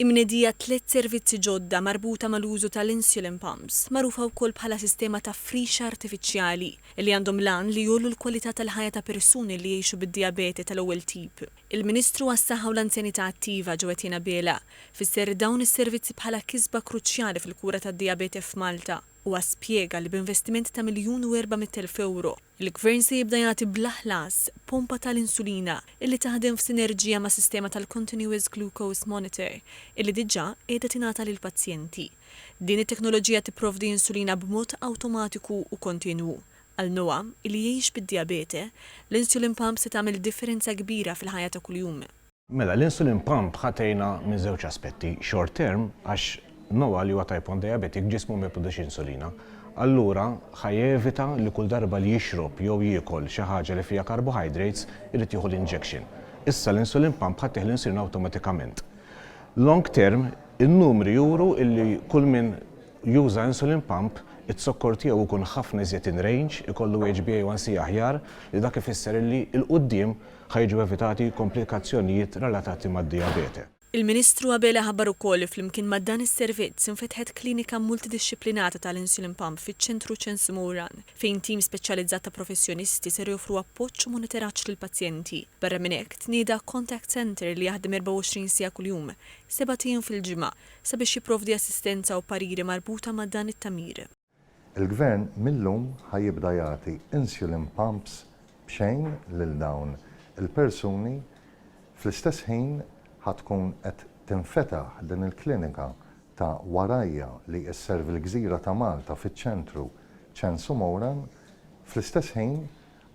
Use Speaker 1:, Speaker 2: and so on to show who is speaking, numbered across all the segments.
Speaker 1: Imnedija tliet servizzi ġodda marbuta mal-użu tal-insulin pumps, magħrufa wkoll bħala sistema ta' frixa artifiċjali, li għandhom l-għan li jgħollu l-kwalità tal-ħajja ta' persuni li jgħixu bid-dijabete tal-ewwel tip. Il-Ministru għas-Saħħa u l-Anzjanità Attiva, Joetin Abela, fisser dawn is-servizzi bħala kisba kruċjali fil-kura tad-dijabete f'Malta. Huwa spjega li b'investiment ta' miljun u erba' mitt elf ewro, Il-Gvern se jibda jagħti bla ħlas pompa tal-insulina illi taħdem f'sinerġija ma' sistema tal-Continuous Glucose Monitor illi diġà qiegħda tingħata lill-pazjenti. Din it-teknoloġija tipprovdi insulina b'mod awtomatiku u kontinwu. Għal Noa, illi jgħix bid-dijabete, l-insulin pump se tagħmel differenza kbira fil-ħajja ta' kuljum. Mela, l-insulin
Speaker 2: pump ħa tgħinha minn żewġ aspetti, short term, għax Noah li huwa type one diabetic ġismu ma jipproduċix insulina. Allura ħa jevita li kull darba li jixrob jew jiekol xi ħaġa li fiha carbohydrates irid jieħu l-injection. Issa l-insulin pump ħa ttih l-insulina awtomatikament. Long term, in-numri juru li kull min juża insulin pump, iz-zokkor tiegħu jkun ħafna iżjed in range, ikollu HbA1c aħjar, li dak ifisser li 'l quddiem Ħa jiġu evitati komplikazzjonijiet relatati mad-dijabete. Il-Ministru Abela
Speaker 1: ħabbar ukoll li flimkien ma' dan is-servizz infetħet klinika multidixxiplinata tal-insulin pump fiċ-Ċentru Ċens Mowran, fejn tim speċjalizzat ta' professjonisti ser joffru appoġġ u monitoraġġ lill-pazjenti. Barra minn hekk, tnieda contact centre li jaħdem 24 siegħa kuljum, sebat ijiem fil-ġimgħa, sabiex jipprovdi assistenza u pariri marbuta ma' dan it-tagħmir. Il-Gvern
Speaker 3: mil-lum ħa jibda jagħti insulin pumps b'xejn lil dawn il-persuni, fl-istess ħin ħa tkun qed tinfetaħ din il-klinika ta' warajja li sservi l-gżira ta' Malta fiċ-ċentru Ċensu Mowran, fl-istess ħin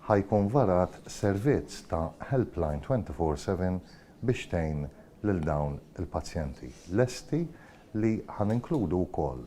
Speaker 3: ħa jkun varat servizz ta' helpline 24 four seven biex tgħin lil dawn il-pazjenti. Lesti li ħa ninkludu wkoll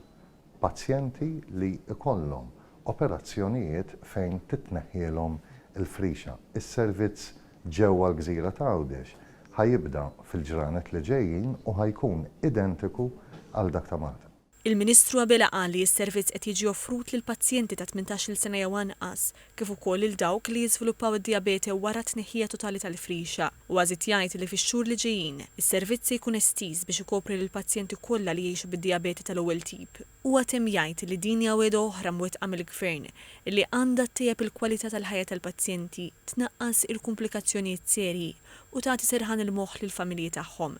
Speaker 3: Pazjenti li jkollhom operazzjonijiet fejn titneħħielhom il-frixa. Is-servizz ġewwa l-gżira ta' Għawdex ħa jibda fil-ġranet li ġejjin u ħa jkun identiku għal dak ta' Malta. Il-Ministru Abela
Speaker 1: qal li s-servizz qed jiġi offrut lil pazjenti ta' tmintax-il sena jew anqas, kif ukoll lil dawk li jiżviluppaw id-dijabete wara t-tneħħija totali tal-frixa. Huwa żied jgħid li fix-xhur li ġejjin, is-servizz se jkun estiż biex ikopri lill-pazjenti kollha li jgħixu bid-dijabete tal-ewwel tip. Huwa temm jgħid li din hija wegħda oħra mwettqa mill-Gvern li għandha ttejjeb il-kwalità tal-ħajja tal-pazjenti, tnaqqas il-kumplikazzjonijiet serji u tagħti serħan il-moħħ lill-familji tagħhom.